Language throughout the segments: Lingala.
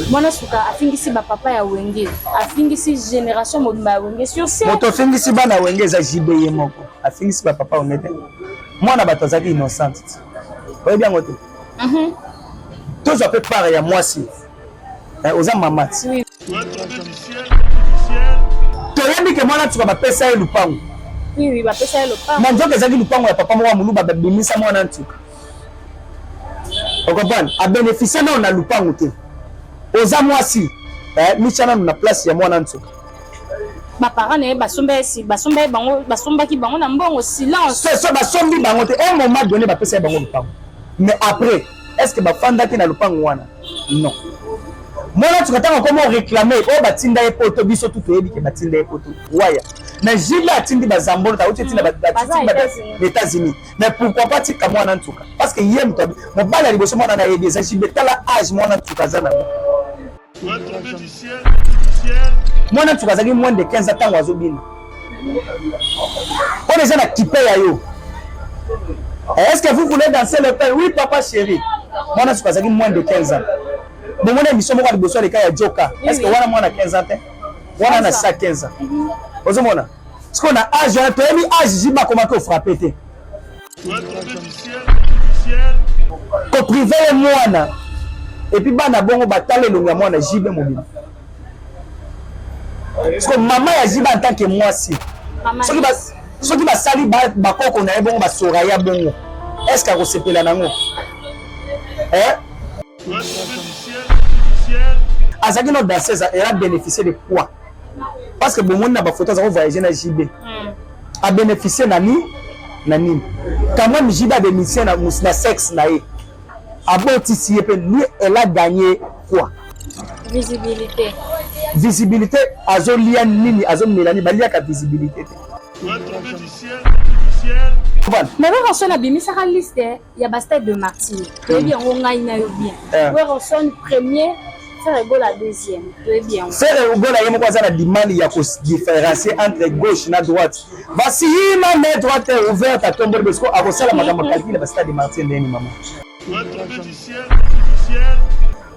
Mwana suka afingisi ba papa ya wenge, afingisi generation mobimba ya wenge sur scène. Moto afingisi bana ya wenge eza JB ye moko. Afingisi ba papa wenge te. Mwana bato azalaki innocent. Oyebi yango te. Mhm. Tozwa mpe part ya mwasi. Eh, oza mama ti. Oui. Toyebi ke mwana suka bapesa ye lupango. Oui, oui, bapesa ye lupango. Na nzoka ezalaki lupango ya papa moko ya moluba babimisa mwana nsuka. okomprendre abenefisia nao na lupangu te oza mwasi eh, mitya nanu na place ya mwana nsoka baparent na ye basombaki bango basombaki bango na mbongo silence so basombi bango te un moment donné bapesa ye bango lupangu mais après est ce que bafandaki na lupangu wana non mwana nsoka ntango akoma oreklame oyo batinda ye poto biso tu toyebi ke batinda ye poto waya mais jile atindi bazambolo tauti etinda baetats-unis mais pourquoi pas tika mwana ntuka parce que ye moto mobali ya liboso mwana na yebi eza jibe tala age mwana ntuka aza nango mwana ntuka azalaki moins de 15 ntango azobina oyo eza na kipe ya yo est ce que vous voulez danser le pain oui papa chéri mwana ntuka azalaki moins de 15 ans bomona émission moko ya liboso aleka ya joka est ce que wana mwana 15 ans te wana na sa 15 ans ozomona sikoyo na age wana toyebi age jiba akomaki ofrape te koprive ye mwana epuis bana bongo batala elongo ya mwana jibe mobima sikoyo mama ya jiba en tant que mwasi soki basali bakoko na ye bongo basora ya bongo est ce que akosepela nango eh? azalaki no danseuse elle a bénéficié de quoi parce que bomoni na bafoto aza kovoyage na jb hmm. abénéficie na nini na nini quand même jb abénéficie na, na sexe na ye abotisi ye mpe lui elle a gagné quoi visibilité visibilité azolia nini azomela nini baliaka visibilité te nakaka soni abimisaka liste ya ba stade de martyr toyebi yango ngai na yo bien eh. werson premier Ferre Gola deuxième toyebi yango Ferre Gola ye moko aza na limali ya kodifférencier entre gauche na droite basiyima mais droite ouverte atomboli bosiko akosala makambo calcule ya bastade martin ndeni mama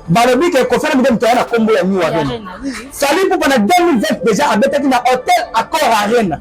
balobi ke kofana mide moto aya na nkombo ya new arena fali mpupa na 2020 déjà abetaki na hotel accord arena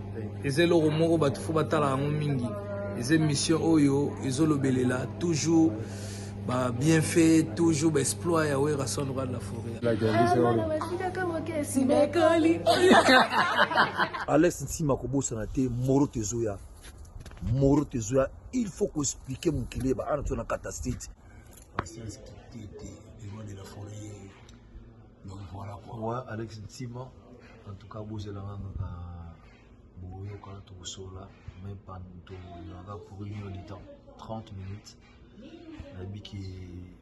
eza eloko moko bato fo batala yango mingi eza émission oyo ezolobelela toujours ba bienfait toujours ba exploit ya werrason roi de la forêt alex nsima kobosana te moro tezoya moro tezoya il faut koexplike mokili eba ana tozana kata state Donc voilà quoi. Ouais, Alex Ntima, en tout cas, vous êtes là, boyokana tokosola mais toyaka pour une heure de temps 30 minutes nayebi ke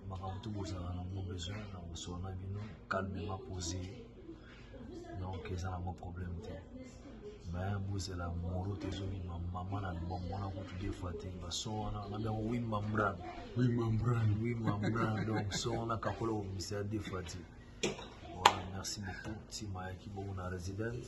makambo to bozala nango besoin na kosola na bino calmement posé donc eza nango problème te baya bozela moro te ezobima mama na libongo wana kutu de fois te baso wana na biango wi mambran wi mambran wi mambran donc so wana kakola obimisa de fois te voilà merci beaucoup ntima ayaki bongo na residence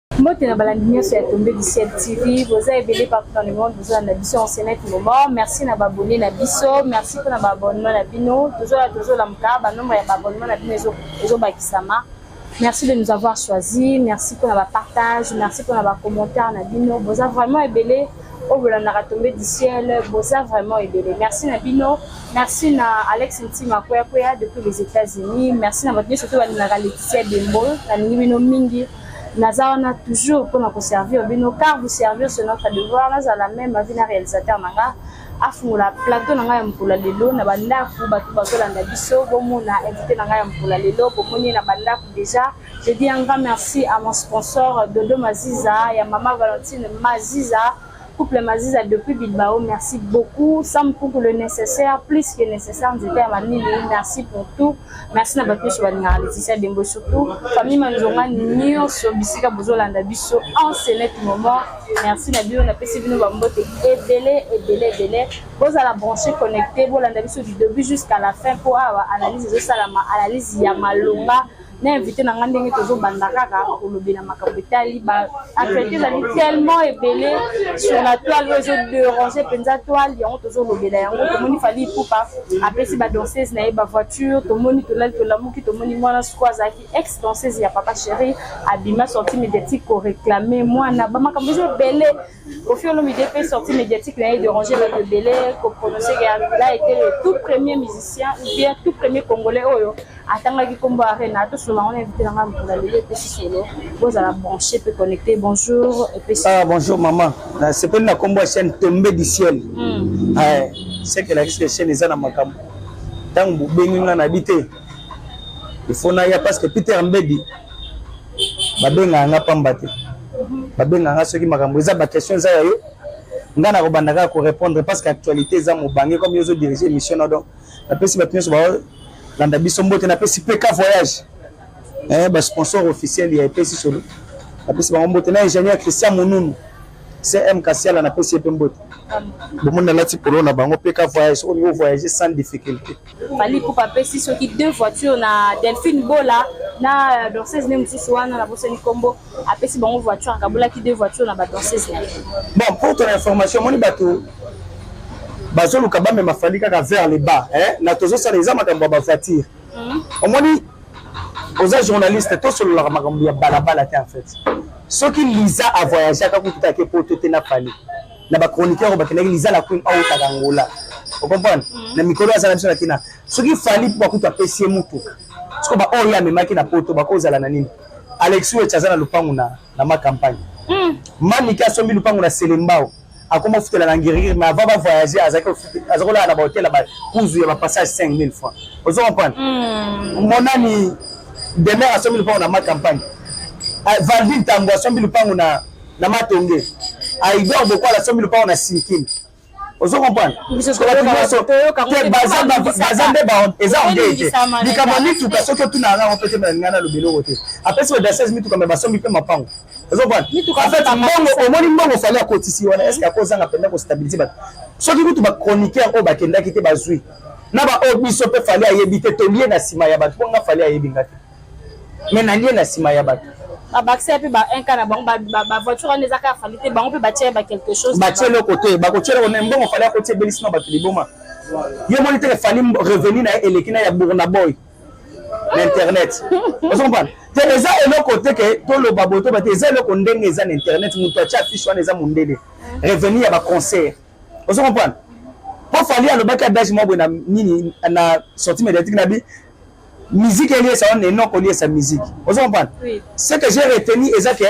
mbote na balandi nyonso ya tombe du ciel tv boza ebele partout dans le monde bozolanda biso en ce net moment merci na baabonne na biso merci mpo na baabonnement na bino tozoya tozolamuka banombre ya baabonnement na bino ezobakisama merci de nous avoir choisi merci mpo na bapartage merci mpo na bacommentaire na bino boza vraiment ebele oyo bolandaka tombe du ciel boza vraiment ebele merci na bino merci na alex ntima kweakweya depuis les états-unis merci na bato nyonso to balingaka leticia dembo nalingi bino mingi naza wana toujours mpo na koservir bino car vous servir ce notre devoir nazala meme avi na réalisateur na nga afungola plateau na ngai ya mokolo ya lelo na bandako bato bazolanda biso bomona invité na ngai ya mokolo ya lelo bomoni ye na bandako déjà je dis un grand merci à mon sponsor dodo maziza ya mama valentine maziza Couple Maziza depuis Bilbao, merci beaucoup. Sam Kuku le nécessaire, plus que nécessaire, nzete ya mamili, merci pour tout. Merci na bato nyonso balingaka Laetitia Dembo surtout. Famille Manzonga nyonso bisika bozolanda biso en ce net moment. Merci na bino, napesi bino bambote ebele ebele ebele. Bozala branché, connecté, bolanda biso du début jusqu'à la fin mpo awa analyse ezosalama, analyse ya malonga. na invité na ngai ndenge tozobanda kaka kolobela makambo etali ba actualité ezali tellement ebele sur la toile oyo ezoderange mpenza toile yango tozolobela yango tomoni fali ipupa apesi badanseuse na ye bavoiture tomoni tolali tolamuki tomoni mwana soko azalaki ex danseuse ya papa chéri abima sorti médiatique koreclame mwana bamakambo eza ebele Kofi Olomide pe sortie médiatique na ye déranger bato ebele ko prononcer que il a été le tout premier musicien ou bien tout premier congolais oyo atangaki nkombo ya Arena tosolola yango na invité na ngai mokolo ya lelo epesi solo bozala branché pe connecté bonjour epesi ah bonjour maman nasepeli na nkombo ya chaîne tombe du ciel mm. eh, seke elakisi ke chaîne eza na makambo ntango bobengi ngai nabi te ifo naya parce que peter mbedi babengaka nga pamba te babengaka nga soki makambo eza baquestion eza ya yo ngai nakobanda kaka korépondre parce que actualité eza mobange comme yo ozo dirige émission na donc napesi bato nyonso balanda biso mbote napesi mpe ka voyage eh, basponsor officiel ya epesi solo napesi bango mbote na ingénieur christian monunu cm kasiala napesi ye mpe mbote bomoni nalati polo na bango mpe ka voyage oyo ovoyage sans difficulté Fally Ipupa apesi soki deux voitures na Delphine Bola na danseuse ne mosusu wana na bosani nkombo apesi bango voiture akabolaki deux voitures na badanseuse na ye bon pour ton information omoni bato bazoluka bamema fali kaka vers le bas eh? na tozosala eza makambo ya bavoiture mhm. omoni oza journaliste tosololaka makambo ya balabala te en fait soki liza avoyageaka kutu te ake poto te na fali na ba chroniqueur bakendaki liza la queen autaka angola okomprendre mm. na mikolo azala biso na kina soki fali mpo bakutu apesi ye motuka soko baoyo ye amemaki na poto bakozala na nini alexi wech aza na lopango na, na ma campagne mm. manike asombi lopango na selembao akoma ofutela na ngirigiri mais avant bavoyage azalaki kolala na bahotel ya bakuzu ya bapassage 5000 francs ozo comprendre mm. monani demer asombi lopango na ma campagne eh, valdi ntango asombi lopango na na matonge aidor bokwala sombi lupango na sinkin ozo comprendre baza nde eza ongei te likambo ya mituka soki otuna yanga yango mpe te balinga na lobeloko te apesi ba dasese mituka me basombi mpe mapango ozo comprendre mbongo omoni mbongo fale akotisi wana eske akozanga mpenza kostabilize bato soki kutu bachroniqueur oyo bakendaki te bazwi na baoyo biso mpe fale ayebi te tolie na nsima ya bato mpo nga fale ayebi nga te mais na lie na sima ya bato babakisa mpe ba un cas na bango bavoiture wana ezaka ya fali te bango mpe batie ba quelque chose batie eloko te bakotie eloko na mbongo fali akotie ebelisi na bato liboma yo omoni teke fali revenu na ye eleki na ya burna boy na internet ozo comprendre te eza eloko te ke toloba boye toba te eza eloko ndenge eza na internet moto atie affiche wana eza mondele revenu ya baconcert ozo comprendre mpo fali alobaki adage mwa boye na nini na sortie médiatique na bi musique eliesa wana enoko eliesa musique ozo comprendre oui. ce que j'ai retenu eza que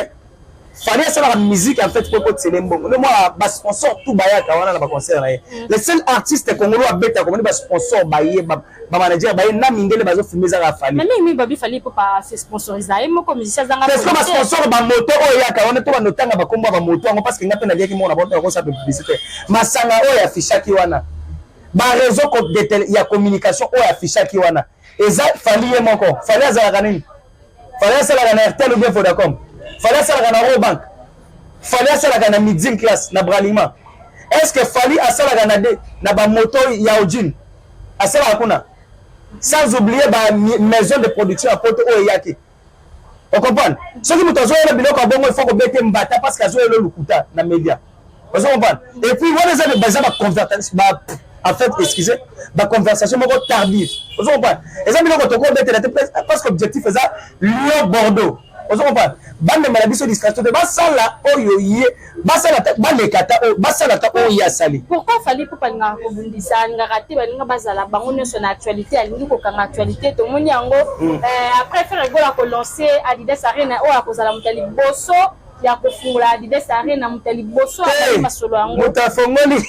fallait asalaka musique en fait mpo ekotisele mbongo nde mwana basponsor tout bayaka wana na baconcert na ye mm. le seul artiste congolo abetaka omoni basponsor baye bamanager baye na mindele bazofilme ezaka afalibasponsor bamoto oyo eyaka wana to bandotanga bakombo ya bamoto yango parce que nga mpe naliaki mona bato nakosa publicité masanga oyo afishaki wana ba réseau ya communication oyo affichaki wana eza fali ye moko fali azalaka nini fali asalaka na airtel ou bien vodacom fali asalaka na robank fali asalaka na midim classe na bralima est ce que fali asalaka na, de, na bamoto ya ojine asalaka kuna sans oublier ba maison de production ya poto oyo eyaki okomprendre soki moto azoyela biloko ya bongo ifo kobete mbata parce que azoyela lokuta na media ozo comprendre et puis wana eza baza baconvertation ba en fait excusez baconversation moko tardive ozo comprendre eza biloko tokobetela te parce que objectif eza lyon bordeaux ozo comprendre bamemela biso distraction te basala oyo ye basala ta baleka ta oyo basala ta oyo ye asali pourquoi fali mpo balingaka kobundisa alingaka te balinga bazala bango nyonso na actualité alingi kokanga actualité tomoni yango mm. euh, après frère egola kolance adidas arena oyo akozala moto ya liboso ya kofungola adidas arena moto ya liboso azali masolo yango moto afongoli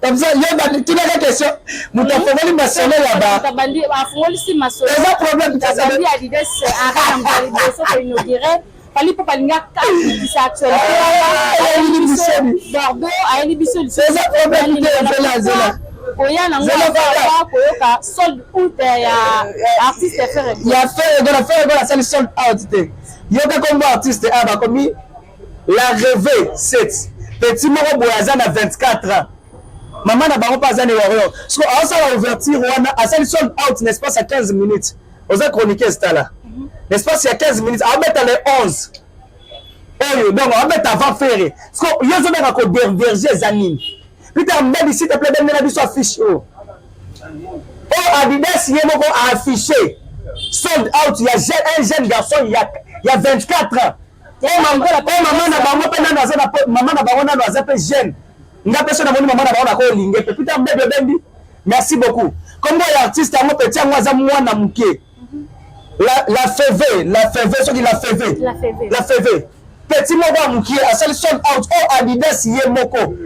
comme ça yo tunaka question moto afongoli masolo ya baafongolisi masolo eza problème Fally Ipupa alinga kakisa actualité ayeli biso Bordeaux ayeli biso lisusu koya nango aaa koyoka sold out ya artiste ya ferre ya ferre gona ferre gona asali sold out te yoka kombo artiste a bakomi la reve set petit moko boye aza na 24 ans mama na bango mpe aza na warrior siko aosala ouverture wana asali sold out na espace ya 15 minutes oza chroniqueuse tala l'espace ya 15 minutes abeta le 11 oyo donc abeta avant fere siko yo ozobeka koderverge eza nini peter mbadi site ple bendela biso affiche oyo oyo adidas ye moko aaffiche sold out ya un jeune garçon ya 24 ans po mama na bango mpe nano aza na mama na bango nano aza mpe jeune nga mpe so namoni mama na bango nakolinge mpe pita bebe obendi merci beaucoup kombo ya artiste yango peti yango aza mwana moke la, la feve la feve soki la feve la feve peti moko ya mokie asali sold out o oh, adidas ye moko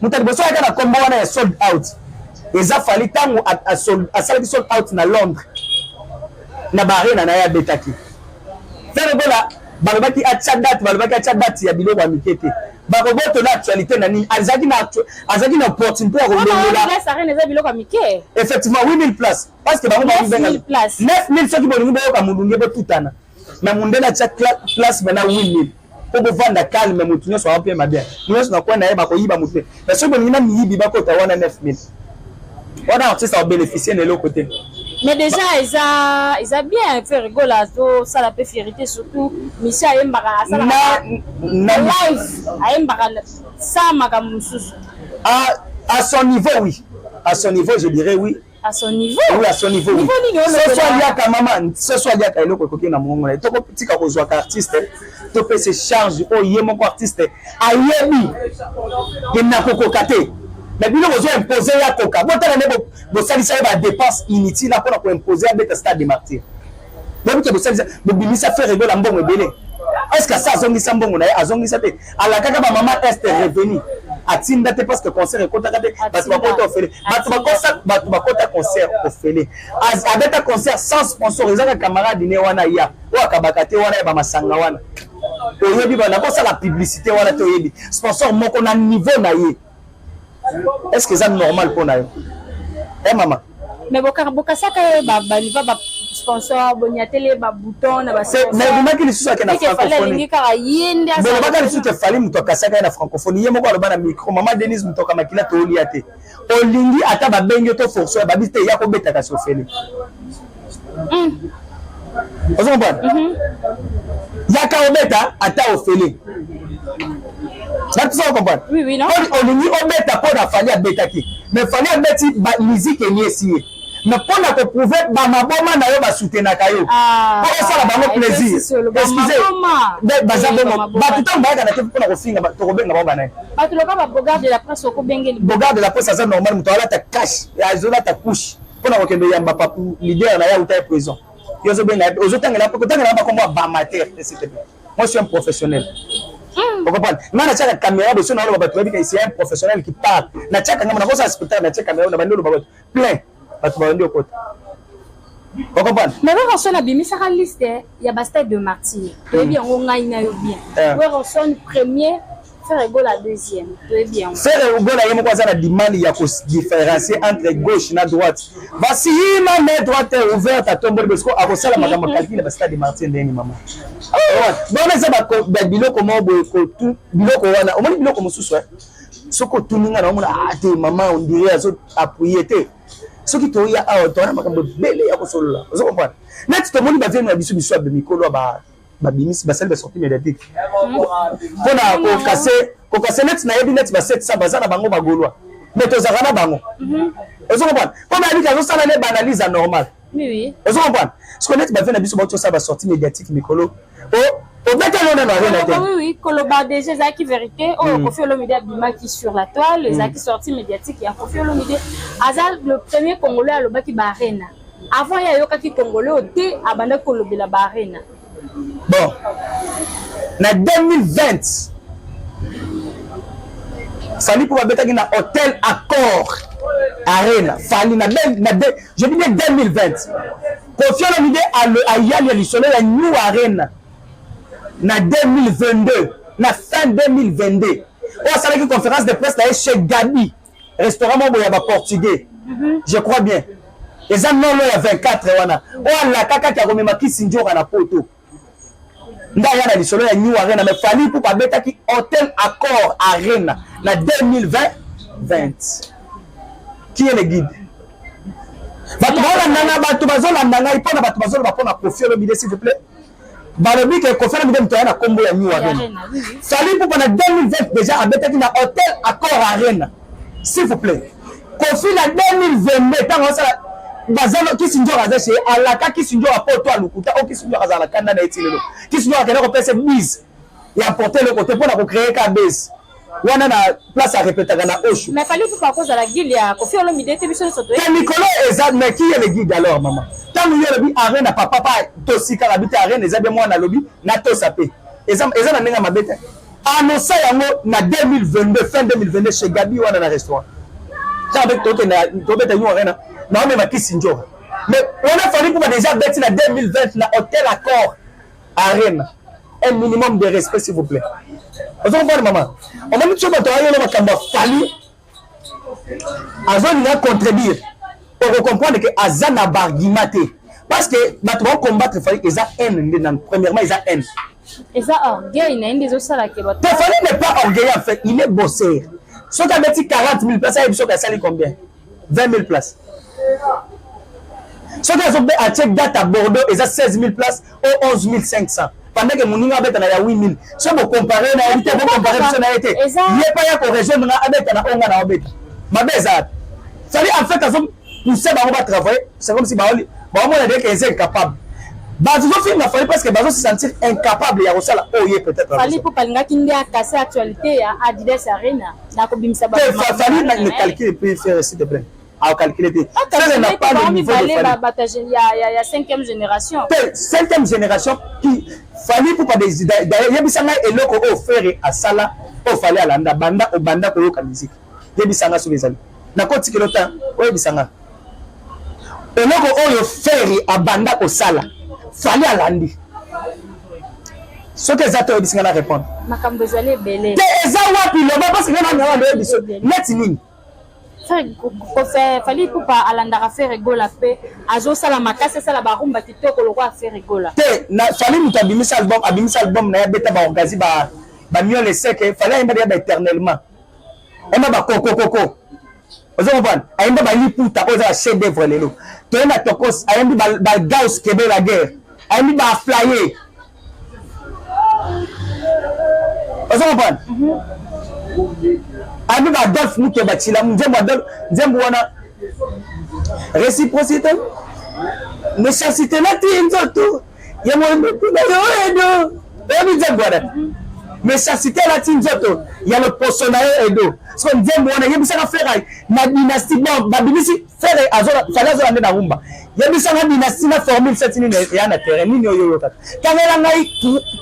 moto ya liboso ayaka na nkombo wana ya sold out eza fali ntango asalaki sold out na londres na baarena na ye abetaki fergola balobaki atya date balobaki atya date ya biloko ya mike te bakoboto na actualité na nini azalaki na azalaki na opportunité ya kolongola effectivement 8000 place parce que bango babenga 9000 soki bolingi boyoka molunge botutana mais mondele atya place bana 8000 po bovanda calme motu nyonso aopema bien nyonso na coin na ye bakoyiba motu te mais soki bolingi na miyibi bakota wana 9000 wana artiste aobénéficie na eloko te mais déjà eza eza bien faire rigola azosala mpe fierité surtout misie ayembaka asalaka live ayembaka sa makambo mosusu à son niveau oui à son niveau je dirais oui à son niveau oui à son niveau niveau nini oyo ce soit liaka maman ce soit liaka eloko ekoki na mongo na toko tika ko zwa artiste to pese charge o ye moko artiste ayebi que na kokoka te mais bino bozo impose ya koka botala nde bosalisa ye ba dépense inutile apona ko impose abeta stade de martyr bobuke bosalisa bobimisa fere egola mbongo ebele est ce que asa azongisa mbongo na ye azongisa te alakaka bamama est revenu atinda te parce que concert ekotaka te bato bakota ofele bato bakosa bato bakota concert ofele abeta concert sans sponsor ezaka camarade ne wana ya oyo akabaka te wana ya bamasanga wana oyebi bana kosala publicité wana te oyebi sponsor moko na niveau na ye est ce que eza normal mpo na yo e mama mais bokasaka ye baliva ba sponsor boniatele babouton na babimaki lisusu ake na francophonie kaka ye nde bolobaka lisusu ke fali moto akasaka ye na francophonie ye moko aloba na micro mama denise moto akamakila tolia te olingi ata babengi yo to forso ya babisi te ya kobetaka sofele mm. ozo comprendre mm -hmm. yaka obeta ata ofele natisa okomprendre oui, oui, no? olingi obeta mpo na fali abetaki mais fali abeti miziki eliesi ye mais mpo na koprouve bamaboma na yo basutenaka yo ah, mpo osala bango plaisir excuse baza bongo bato ntango bayaka na te mpo na kofinga tokobenga bango banaye bogarde de la presse aza normal moto alata cash azolata couche mpo na kokende oyamba papu leader na ye auta ye prison yo ozobenga ye ozotangela kotangela ye bakombo ya bamatere etc moi suis un professionnel hmm. okomprendre ngai natiaka caméra boso naoloba bato bayebi kaisi un professionnel qui parle natiaka ngai nakosala spectacle natia caméra na bandi oloba bato plein bato babandi okota okomprendre mais kaka soni abimisaka liste ya ba stade de martyr toyebi yango ngai na yo bien eh. werson premier Ferre Gola deuxième toyebi yango Ferre Gola ye moko aza na limani ya kodifférencier entre gauche na droite basi yima me droite ouverte atomboli bosiko akosala makambo calcul ya bastade martin ndeni mama bona eza biloko moko boye biloko wana omoni biloko mosusu eh? soki otuni ngai naomona ah, te mama ondire azo appuye te soki toya awa toa na makambo ebele ya kosolola ozo comprendre neti tomoni bavieni na biso biso ya mikolo ya babimisi basali basorti médiatique mpona kokase kokase neti nayebi neti ba 700 baza na bango bagolwa mais tozalaka na bango mhm. ozo comprendre mpo nayebi te azosala ne baanalyse ya normale Oui, oui. Ozo comprendre? Ce qu'on est ba na biso ba to sa ba sortie médiatique mikolo. Oh, obeta yo na rien na te. Oui, oui, koloba déjà ezaki vérité. Oh, hmm. Koffi Olomide abimaki sur la toile, hmm. ezaki sortie médiatique ya Koffi Olomide. Aza le premier Congolais alobaki ba arena. Avant ya yokaki Congolais te abanda kolobela ba arena. bon na 2020 fali mpo babetaki na hotel accord arena fali na, ben, na de, je dis bien 2020 kofi olomide ayali ya lisolo ya new arena na 2022 na fin 2022 oyo asalaki conférence de presse na ye chez gabi restaurant moko boye ya ba portugais mhm. je crois bien eza nolo ya 24 wana oyo alaka kati akomema kisinjora na poto nde aya na lisolo ya new arena me fali mpo babetaki hotel accord arena na 2020 qui est le guide bato baolanda ngai bato bazolanda ngai mpo na bato bazoloba mpo na kofi olobide s'il vous plaît balobi ke Koffi Olomide moto aya na kombo ya New Arena Fally Ipupa na 2020 déjà abetaki na Hotel Accor Arena s'il vous plaît Koffi na 2022 ntango asala bazalo kisinjora aza chez alaka kisinjora po to alukuta o oh, kisinjora azala na kanda na ye ti lelo kisinjora akenda kopesa bise ya porte eloko te mpo na kocreye ka base wana na place ya repetaka na osho mais fallait pas kozala guide ya kofi olomide te biso nyonso toye te mikolo eza mais qui est le guide alors maman ntango yo olobi arena papa pa tosikaka bi te arena eza bie mwana alobi natosa mpe eza eza na ndenge ya mabe te annonsa yango na 2022 fin 2022 chez gabi wana na restaurant ntango mpe tokenda tobeta yo arena naomema kisi njora mais wana fallait kuba déjà beti na 2020 na hotel accord arena un minimum de respect s'il vous plaît ozo comprendre mama omoni tso bato ayolo makambo ya fali azolinga contredire okokomprendre ke aza na bargument te parce que bato baocombattre fali eza haine nde nanu premièrement eza haine eza orgueil na ye nde ezosala ke bato te fali n'est pas orgueil en fait il est bosser soki abeti 40 000 place ayebi soki asali combien 20000 places soki azobe atie date à bordeaux eza 16000 places o 11500 pendant que moninga abeta na ya 8000 so bocompare na ye te bocompare biso na ye te ye pa ya korejoindre nga abeta na oyo nga na obeta mabe eza wapi sali en fait azo pousse bango batravaille c'est comme si baomona deke eza incapable bazofinga fali parce que bazo se sentir incapable ya kosala oyo ye peut-être fali mpo balingaki nde akase actualité ya adidas arena nakobimisa ba fafali na calcul puis faire s'il te plaît a calculer te sele na pas le niveau de Fally bata ya ya ya 5e génération te 5e génération qui Fally pour pas des d'ailleurs yebisa ngai eloko oyo Ferre asala oyo Fally alanda banda obanda koyoka musique yebisa ngai soki ezali nakotikela ota oyebisa ngai eloko oyo feri abanda kosala fali alandi soki eza te oyebisi ngai na répondre makambo ezali ebele te eza wapi loba parce que ngai nanga ndoyebi so neti nini fali pupa alandaka fere gola mpe azosala makasi asala barumba kitoko lokola fere gola te fali moto abimisa album abimisa album na ye abeta baorgasi bamiole seke fali ayemba deya baéternellement ema bakokokoko ozo comprendre ayembi ba liputa oyo eza ba chef d'œuvre lelo toye na tokos ayembi ba gaus kebe la guerre ayembi ba flaye ozo comprendre mhm. ayembi ba adolphe mukeba tshila nzembo adolphe nzembo wana réciprocité nécessité nati nzoto yango edo oyebi nzembo wana mechasite alati nzoto ya loposo na ye edo soko nzembo wana yebisaka fera na dynastie bon babimisi fere fale azola nde na rumba yebisanga dynastie na formule seti nini eya na terrain nini oyo oyokaka tangela ngai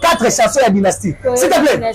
4 chanson ya dynastie s'il te plaît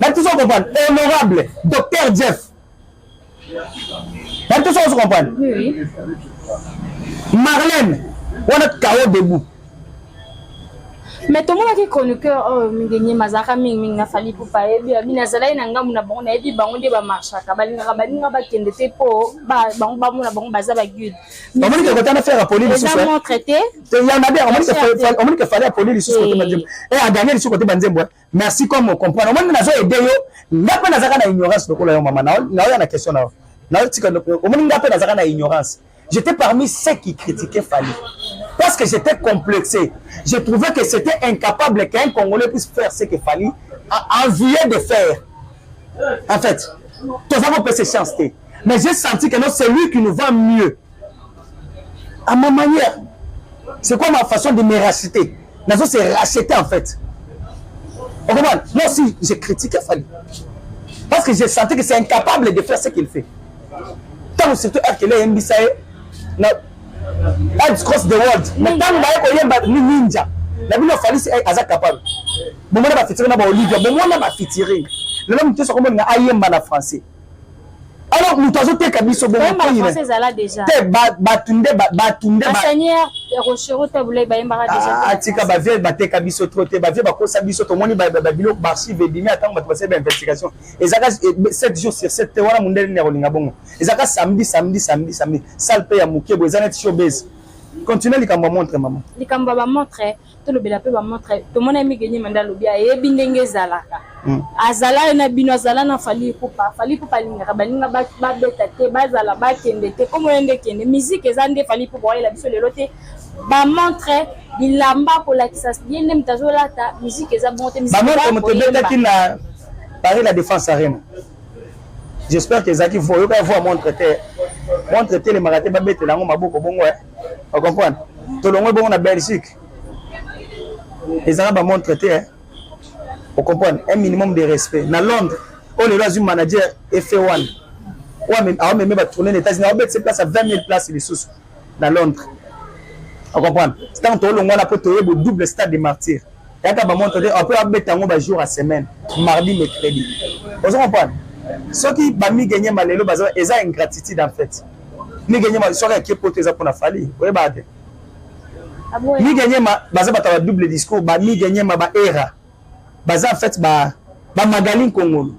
Bato ozo comprendre honorable docteur Jeff bato ozo ozo comprendre Marlène wana kao debout me tomonaki chroniqueur oyo oh, mingi nyema azalaka mingimingi na fali pupa ayebi eh, abini azalaki na ngambo na bango nayebi bango nde bamarchaka balingaka baninga bakende te mpo bango bamona bango baza baguide omonike kota na faire apoli lisusumontre te yanabia omonike fali apoli lisusu kote banzembo e aganye lisusu kote banzembo merci comme on comprend omoni nazo aide yo nga mpe nazaka na ignorance lokola yo mama naoya na question na yo naotika omoni nga mpe nazaka na ignorance j'étais parmi ceux qui critiquaient Fally parce que j'étais complexé je trouvais que c'était incapable qu'un Congolais puisse faire ce que Fally a envie de faire en fait toza kopesa chance te mais j'ai senti que non c'est lui qui nous va mieux à ma manière c'est quoi ma façon de me racheter nazo se racheter en fait on comprend moi aussi je critique Fally parce que j'ai senti que c'est incapable de faire ce qu'il fait ntango surtout akele eyembisa ye na Heads cross the world na ntango baye koyemba ni ninja na bino falisi eh, aza capable bomona bafitiri na baolivia bomona bafitiri lelo moto nyonso akomonina ayemba na français alors moto azoteka biso bongobato nde bato ndeatika bavie bateka biso tro te bavie bakosa biso tomoni babiloko baarchive ebimi atango bato basali bainvestigation ezaka 7 eh, jours sur 7 te wana mondele nini akolinga bongo ezaka samedi samedi samedi samedi sale mpe ya mokebo eza neti showbase continue likambo ya montre mama likambo ya bamontre tolobela mpe bamontre tomona mige nyema nde alobi ayebi ndenge ezalaka hmm. azala na bino azala na fali kupa fali kupa alingaka baninga babeta te bazala bakende te komo ye nde kende miziki eza nde fali kupa wayela biso lelo te bamontre bilamba kolakisa ye nde moto azolata miziki eza bongo te bamontre moto ebetaki na paris la défense arena j'espère que ezalaki vo oyokaki vo ya montre te montre etelemaka te babetela yango maboko bongo eh. o comprendre tolongwe bongo na belgique ezalaka bamontre te eh? o comprendre un minimum de respect na londres oyo oh, lelo azwi manager efe wana awameme batourne na états-unis awobetise place ya 20 000 place lisusu na londres o comprendre ntango tolongwa na mpo toyebo double stade de martyr yaka bamontre te apres abeta yango bajour ya semaine mardi mercredi ozo comprendre soki bamigenye malelo eza ingratitude en fait Mike Nyema histoire ya Kiepoto eza pona Fally. Oyeba te. Ah Mike Nyema baza bata ba double discours, ba Mike Nyema ba era. Baza en fait ba ba Magali Nkongolo.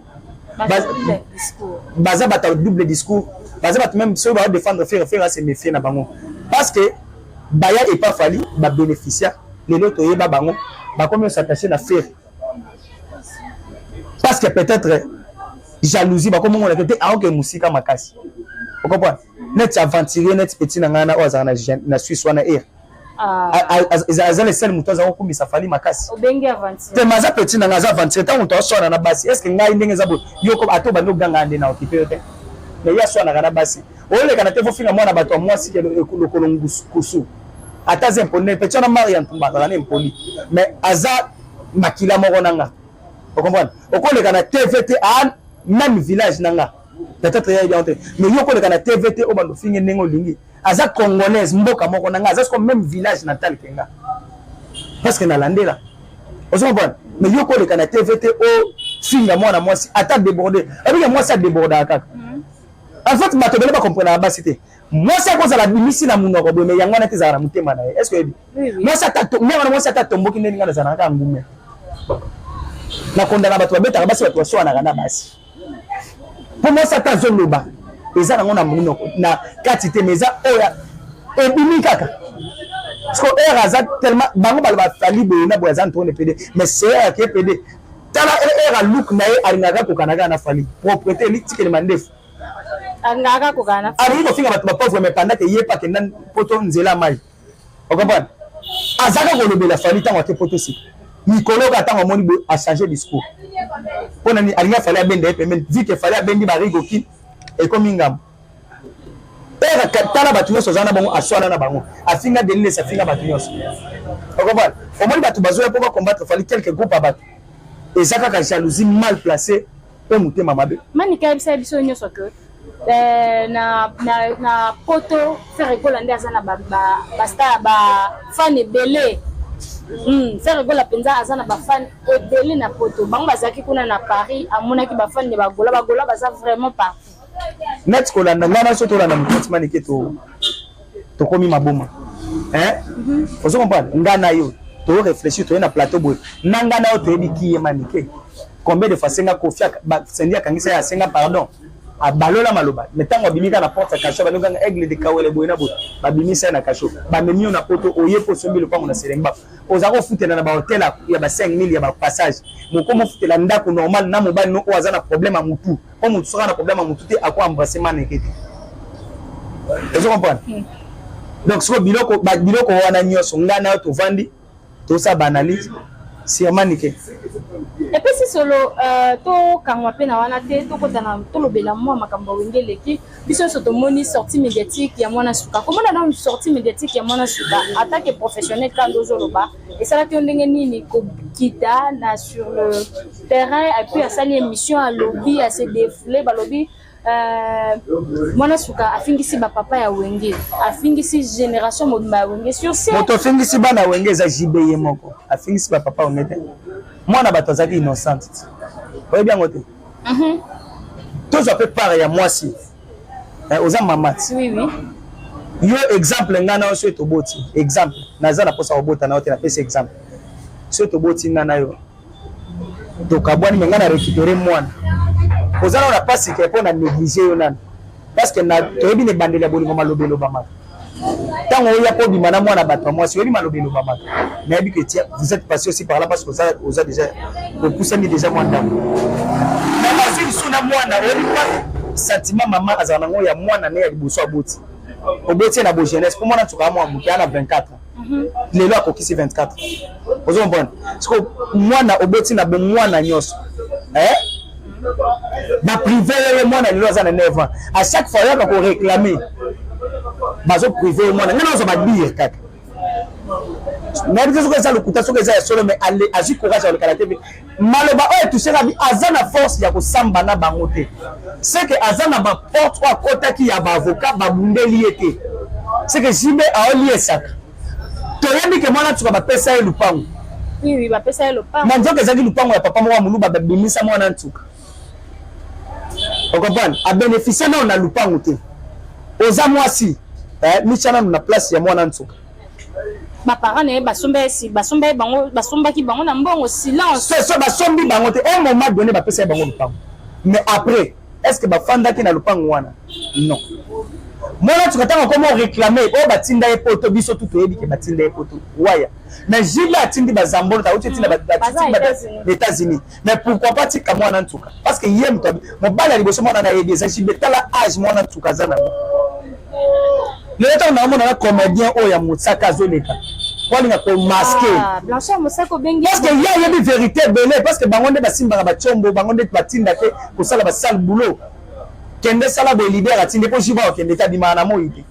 Baza bata double discours. Baza bata même ceux ba défendre faire faire à se méfier na bango. Parce que baya epa Fally ba bénéficiaire lelo toyeba bango bakomi osattache na fere parce que peut-être jalousie bakomongonaka te aoke mosika makasi okomprendre neti aventurier neti petit na ngai na oyo azalaka na suisse wana ere aza le seul moto azala kokumisa fali makasi te ma aza petit na ngai aza aventurier ntango moto aswana na basi estce ngai ndenge eza boye yoko ata obandi oganga nde na okipe yo te me ye aswanaka na basi olekana te fofinga mwana bato ya mwasi lokolo kusu ata aza impoli na petit wana mari ya ntumba azala na impoli mais aza makila moko na nga okomprendre okoleka na tv te a ah, même village na nga peut-être ya bien te mais yo okoleka na tv te obanda ofinge ndenge olingi aza congolaise mboka moko na nga aza soko même village natal ke nga parce que nalandela ozo comprendre mais yo koleka na tv te ofinga mwana mwasi ata déborde abika mwasi adébordaka kaka en fait bato ebele bakomprenaka basi te mwasi akozala bimisi na munoko boye me yango wana te ezalaka na motema na ye est ce que oyebi mwasi me wana mwasi ata atomboki ndenge ngai nazalaka kaka ngume nakondana bato babetaka basi bato baswanaka na basi mpo mwasi ata azoloba eza nango na munoko na kati te me eza oyo ebimi kaka siko heure aza tellement bango baloba fali boye na boye aza ntone pede mais seer ake pede tala heure aluke na ye alingaka kokanaka na fali propreté litikeli mandefu alingaka kaka kokana na alingi kofinga bato bapauvre mais pendant ke ye pa akenda poto nzela mai okomprane azaka kolobela fali ntango ake poto sika mikolo oyo ntango amoni boye achange discours mpo na nini alingi afali abenda ye pembeni vi ke fali abendi barigoki ekomi ngambo tala bato nyonso aza na bango aswana na bango afinga deliles afinga bato nyonso okomprane omoni bato bazoya mpo bakombattre fali quelque groupe ya bato eza kaka jalousie mal placée mpe motema mabe manika ayebisa biso nyonso ke eh, na, na, na poto ferre gola nde aza na bastar bafane ebele Hmm, Ferre Gola mpenza aza na bafane ebele na poto bango bazalaki kuna na Paris amonaki bafane ya bagola bagola baza vraiment partout neti kolanda ngai na so tolanda mokonzi manike to tokomi maboma hein mhm. ozo comprendre ngai na yo to réfléchir toye na plateau boye na ngai na yo toyebi kiye manike combien de fois senga kofi sendi akangisa ye asenga pardon abalola maloba me ntango abimi kaka na porte ya kasho balobi kanga aigle de kawele boye na boye babimisa ye na kasho bamemi yo na poto oye mpo osombi lopango na selengba oza kofutela na bahotel ya ba 5000 ya bapassage moko mofutela ndako normal na mobali no oyo aza na problème ya motu po mutu soki na problème ya mutu te ako embrasser maneke te ozo comprendre hmm. donc sikoyo biloko biloko wana nyonso ngai nayo tovandi tosala baanalyse sur manike epesi solo euh, tokangwa mpe na wana te tokotana tolobela mwa makambo ya wenge eleki biso nyonso tomoni sortie médiatique ya mwana suka komona nanu sortie médiatique ya mwana suka atant que professionnel kanda ozoloba esalaki yo ndenge nini kokita na sur le terrain epuis asali émission alobi ase défoule balobi Euh, mwana suka afingisi bapapa ya wenge afingisi génération mobimba ya wenge sur moto afingisi bana wenge eza jb ye moko afingisi bapapa wenge te mwana bato azalaki innocente oyebi yango te Mhm. tozwa mpe part ya mwasi eh, oza mama ti oui, oui. yo exemple ngai nayo soki toboti exemple naza na mposa kobota na yo te napesi exemple soki toboti ngai na yo tokabwani me ngai na récupere mwana oza nao na mpasi te mpo na néglige yo nani parce que na toyebi na ebandeli ya bolingo maloba elobamaka ntango oya mpo obima na mwana bato ya mwasi oyebi maloba elobamaka nayebi que tia vous êtes passé aussi par là parce que oza, oza déjà opusani déjà mwa ndambo na bazwi lisusu na mwana oyebi mpa sentiment mama azala nango ya mwana ne ya liboso aboti oboti ye na bojeunesse mpo mwana nsuka ya mwa moke ana 24 ans mhm. lelo akokisi 24 ozo comprendre sikoyo mwana oboti na bomwana nyonso eh? na prive ye mwana lelo aza na 9 ans à chaque fois yaka koréclame bazo prive ye mwana ngai nazwa badire kaka nayebi te soki eza lokuta soki eza ya solo mais azwi courage ya kolekala te maloba oyo etushaka bi aza na force ya kosamba na bango te seke aza na baporte oyo akotaki ya baavocat babundeli ye te seke jibe aoliesaka toyebi ke mwana ntuka bapesa ye lupango na nzoka ezalaki lupango ya papa moko ya moluba babimisa mwana ntuka okomprane abeneficie nao na lupango te oza mwasi eh, mitia nano na place ya mwana ntuka ba parents naye basomba ye si basomba ye bango basombaki bango na mbongo silence c'est ça basombi bango te un moment donné bapesa ye bango lopango mais après est ce que bafandaki na lopango wana non mwana tuka ntango akoma oreklame oyo batinda ye poto biso tu toyebi ke batinda ye poto waya mais jile atindi bazambolo tauti etinda na états-unis mais pourquoi pas tika mwana ntuka parce que ye moto mobali ya liboso mwana na yebi eza jibe tala age mwana ntuka aza nango lelo ntango naomona na comédien oyo ya mosaka azoleka walinga komaske ah, parceke ye ayebi verité ebele parceke bango nde basimbaka bacombo bango nde batinda te kosala basale boulot kende sala boye leader atindi mpo jiba okende te abimaka na moi te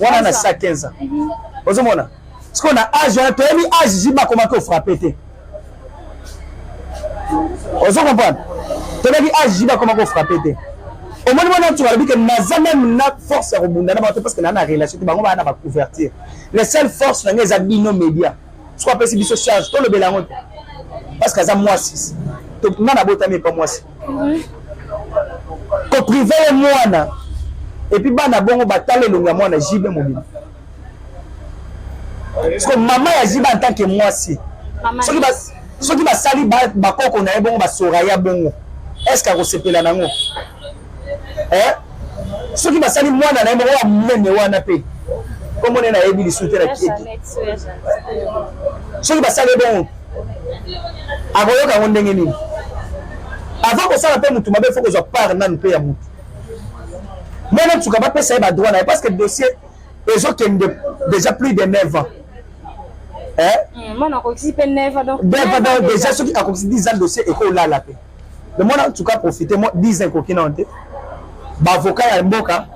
wana na sa 15 ans mhm. ozomona sikoyo na age wana toyebi age jiba akomaki ofrape te ozo comprendre toyebi age jiba akomaki ofrape te omoni mwana ntuka alobi ke naza meme na force ya kobunda na bato parce que naa na relation te bango baa na bacouverture le seul force na ngai eza bino média soko apesi biso charge tolobela yango te parce que aza mwasi nga nabotami epa mwasi ko prive ye mwana epuis bana bongo batala elongo ya mwana jibe mobima parceke mama ya jibe en tant que mwasi soki basali bakoko na ye bongo basoraya bongo est ce que akosepela nango eh? soki basali mwana na ye moko ya monene wana mpe kombo nde nayebi lisusu te na kieki soki basali bongo akoyoka yango ndenge nini avant kosala mpe motu mabe fo kozwa part nanu mpe ya motu mwana nsuka bapesa ye badroit na ye parce que dossier ezokende déjà plus de 9 ans eh? hmm, mwana akokisi mpe 9 ans donc déjà soki akokisi 10 ans dossier ekolala mpe le mwana nsuka profite 10 ans ekoki nano te baavoka ya mboka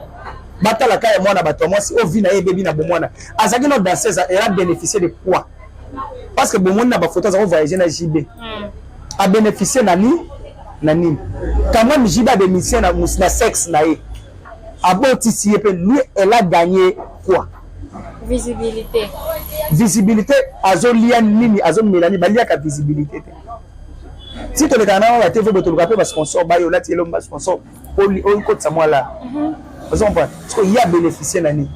batalaka ya mwana bato ya mwasi oyo vi na ye ebebi na bomwana azalaki no danseuse era bénéficier de quoi parce que bomoni na bafoto aza kovoyage na jb hmm. abénéficie na nini na nini quand même jb abénéficie na, na sexe na ye abotisi ye mpe lui elle a gagné quoi visibilité visibilité azolia nini azomela nini baliaka visibilité te si tolekana na wana te fo botoluka mpe basponsor bayo olati elomba sponsor okotisa mwa la mhm. ozo comprendre sikoyo ye abénéficie na nini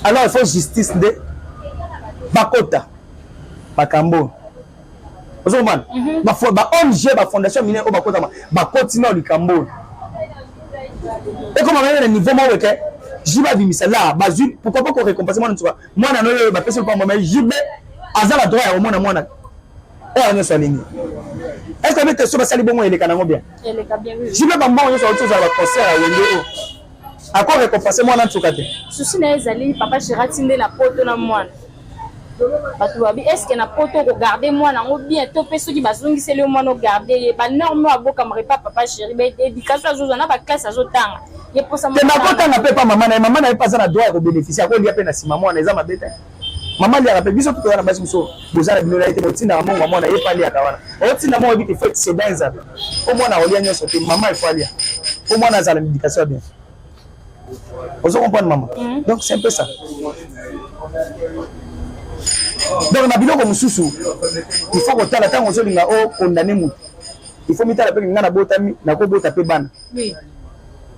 alors il faut justice nde bakota makambo oyo ozo comprendre mhm. ba ong bafondation mine oyo bakotama bakoti nao likambo oyo ekoma kaka na niveau moko eke jibe abimisa la bazwi pourquoi pas korécompense mwana nsuka mwana no oyo bapesi lopambo mai jibe aza na droit ya komona mwana oyo nyonso alingi est ce que bete so basali bongo eleka nango bien jibe bambongo nyonso auti ozala baconcert ya wenge oyo ako récompense mwana nsuka te susi na ye ezali papa gerati nde na poto na mwana bato babi estce na poto okogarde mwana yango bien to mpe soki bazongiseli yo mwana ogarde ye banorme oyo abokamaka epa papa chéri baéducation azozwa na baklasse azotanga ye mposa akotanga mpe epa mama na ye mama na ye mpe aza na droit ya kobénéficie akolia mpe na nsima mwana eza mabe te mama aliaka mpe biso tokoya na basi mosusu boza na bino na ye te botindaka mongo ya mwana ye mpe aliaka wana otinda mongo yebi te fo exceda ezabe mpo mwana aolia nyonso te mama efo alia mpo mwana azala na éducation ya bien ozo comprendre mama mm. donc c'est un peu ça donc na biloko mosusu il faut kotala ntango ozolinga o condamne motu il faut mitala mpe ngai nabotami nakobota mpe bana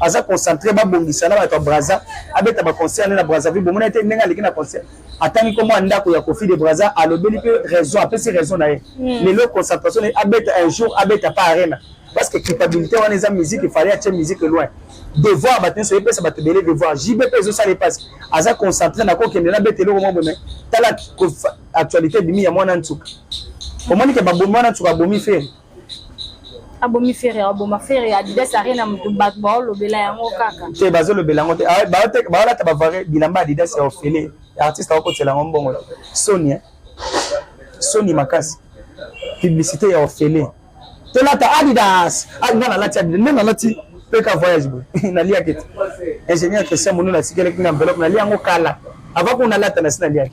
aza concentre babongisa na bato ya braza abeta baconcert ne na brazzaville bomona te ndenge aleki na concert atangi nkombo ya ndako ya kofi de braza alobeli mpe raison apesi raison na ye hmm. lelo concentration ne abeta un jour abeta pa arena parce que culpabilité wana eza musique efale atie musique loin devoir bato nyonso epesa bato ebele devoir jb mpe ezosala epasi aza concentre na kokende na beta eloko mwa bome tala actualité bimi ya mwana nsuka omoni ke babomi wana nsuka abomi fere abomi fere aboma fere ya adidas arena moto bato baolobela yango kaka te bazolobela yango te ah, baolata bavare bilamba ya adidas ya ofele ya artiste akokotela yango mbongo soni eh? soni makasi publicité ya ofele tolata adidas ah, nga nalati adidas nde nalati peka voyage boye naliaki te ingénieur christian monuna asikelaki na enveloppe nalia yango kala avant kuna alata na si naliaki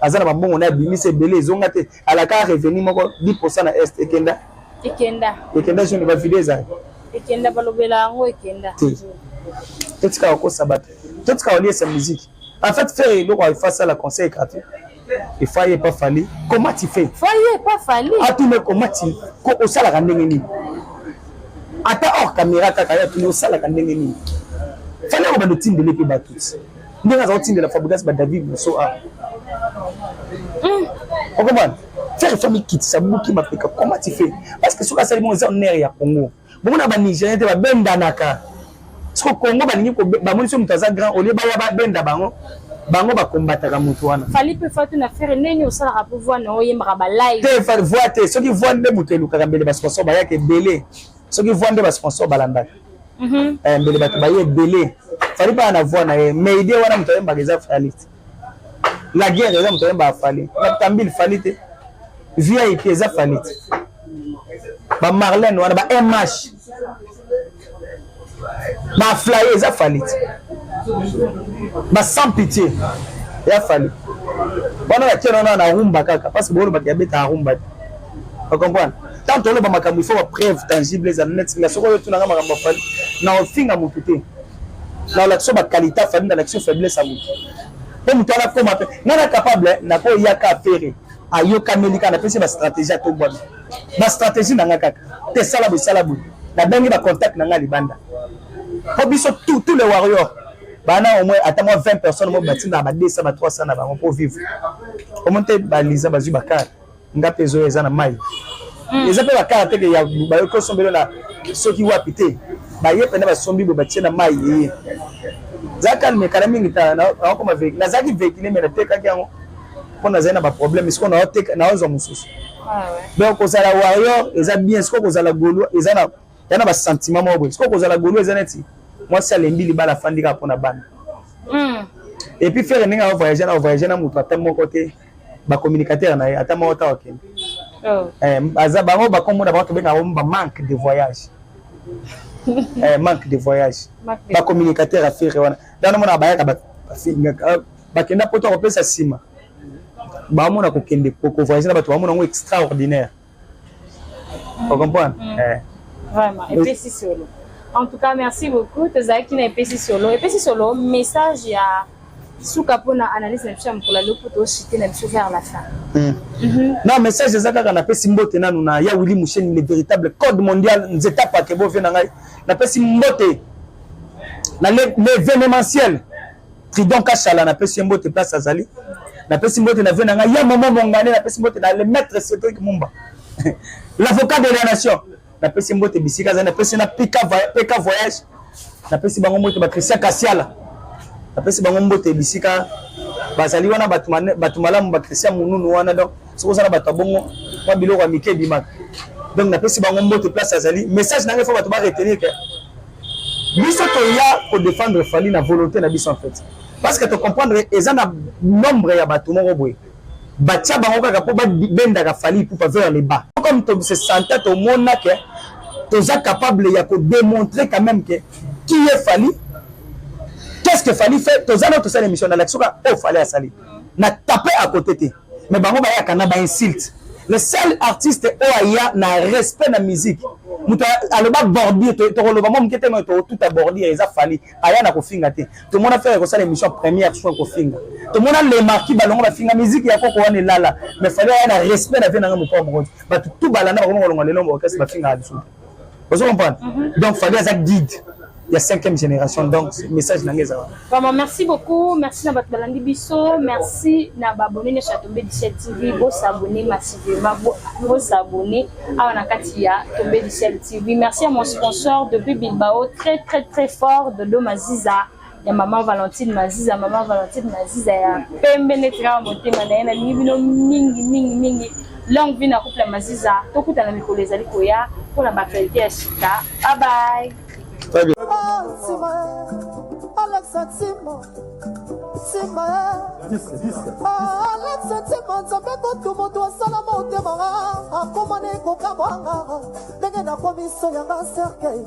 aza na mabongo naye abimisa ebele ezonga te alaka revenu moko 10 na est ekenda ekenda ekenda zoni bavide ezali ekenda balobela yango ekenda te totika kokosa bato totika koliesa miziki en fait faire eloko ifa asala conseil gratuit ifa ye pa fali comment tu fais fa ye pa fali atuna comment tu ko osalaka ndenge nini ata hors caméra kaka ye atuni osalaka ndenge nini fali akobanda otindele mpe bato ndenge aza kotindela fabrigas badavid moso a hmm. okomana faire fami kitisa buki mapeka comment tu fais parce que soki asali bongo eza onere ya congo bomona banigérien te babendanaka soki congo balingi bamoni so moto aza grand olie baya babenda bango bango bakombataka moto wana fali mpe fatu na fere ndenge osalaka mpo voi na oyembaka balai te voi te soki voi nde moto elukaka mbele basponsor bayaka ebele soki voix nde ba sponsor balandaka mhm. eh, mbele bato baye ebele fali bana na voix na ye mais idée wana moto ayembaka eza fali te la guerre eza moto ayembaka fali batambili fali te vip eza fali te bamarlene wana ba mh ba flaye eza fali ti ba sans pitié ya fali wana batia nana na rumba kaka parce que bolobaka ya beta rumba te okomprendre tant oloba makambo ifo bapreuve tangible ezala neti nga soki oyotunanga makambo ya fali na ofinga motu te na olakisa bakalite afali na lakisa faiblesse ya motu mpo motu wana akoma mpe nga na capable nakoyaka apere ayokameli kaka napesi ba stratégie atombwami ba stratégie na nga kaka te sala boye sala boye nabengi ba contact na nga libanda mpo biso tout tout le warrior bana au moins ata mwa 20 personnes mo batinda ba 200 ba 300 na bango mpo vivre omoni te baliza bazwi bakar nga mpe ezoya eza na mai hmm. eza mpe bakar teke ya bayoki osombelo na soki wapi te baye mpena basombi bo batie na mai eye za calme kala mingi tala nakoma nazalaki vehicule me natekaki yango mpo nazali na baproblème sikoyo naoteka naozwa mosusu ah, donc kozala warrior eza bien sikoyo kozala golois eza na ya na basentiment moko boye sikoyo kozala golois eza neti mwasi alembi libala afandi kaka mpo na bana hmm. epuis fere ndenge aovoyage na ovoyage na moto ata moko te bacommunicateur na ye ata moko ta okende oh. eh, aza bango bakomona bango tobenga yango ba manque de voyage eh, manque de voyage bacommunicateur ya fere wana ntango mona bayaka bafingaka bakenda poto akopesa nsima bamona kokende kovoyage na bato bamona yango extraordinaire ocomprendre mm. eh. vraiment epesi solo en tout cas merci beaucoup tozalaki na epesi solo epesi solo message ya suka mpona analyse na biso ya mokolo aloko toshite na biso vers la fin hmm. mhm. na message eza kaka napesi mbote nanu na ya wili musheni le véritable code mondial nzeta pakebo vie na ngai napesi mbote na l'événementiel Tridon Kashala napesi ye mbote place azali. Napesi mbote na vie na ngai ya mama mongane napesi mbote na le maître Cédric Mumba. L'avocat de la nation. Napesi mbote bisika azali napesi na Pika Pika voyage. Napesi bango mbote ba Christian Kasiala. Napesi bango mbote bisika bazali wana bato bato malamu ba Christian Mununu wana donc soki ozana bato ya bongo mwa biloko ya mike ebimaka. Donc napesi bango mbote place azali. Message na ngai faut bato ba retenir que biso toya ko défendre Fally na volonté na biso en fait parce que to comprendre eza na nombre ya bato moko boye batia bango kaka mpo babendaka Fally Ipupa vers le bas comme to se senta tomona ke toza capable ya ko démontrer quand même que qui est Fally qu'est-ce que Fally fait toza na tosala émission na lakisi oka oyo Fally asali na tape à côté te mais bango bayaka na ba insulte le seul artiste oyo aya na respect na musique moto aloba bordure tokoloba mwa moke te moyo tokotuta bordure eza fali aya na kofinga te tomona fere kosala émission première soin kofinga tomona le marquis balongo bafinga musique ya koko wana elala mais fali aya na respect na vie nanga mokwa mokoti bato tu balanda bakoma kolonga lelo mokasi bafingaka lisusu ozo comprendre mhm. donc fali aza guide ya cinquième génération donc message na ngai eza wana vraiment merci beaucoup merci na bato balandi biso merci na baabone nyonso ya tombe dicel tv bosabone massivement bosabone awa na kati ya tombe dicel tv merci à mon sponsor depuis bilbao très très très fort dodo maziza ya mama valentine maziza mama valentine maziza ya pembe neti kaka motema na ye nalingi bino mingi mingi mingi longue vie na couple ya maziza tokutana mikolo ezali koya mpo na baaktualité ya sika babaye alexa ntima nzambe kutu moto asala motema akoma na ekokamwanga ndenge nakomi so yanga serkei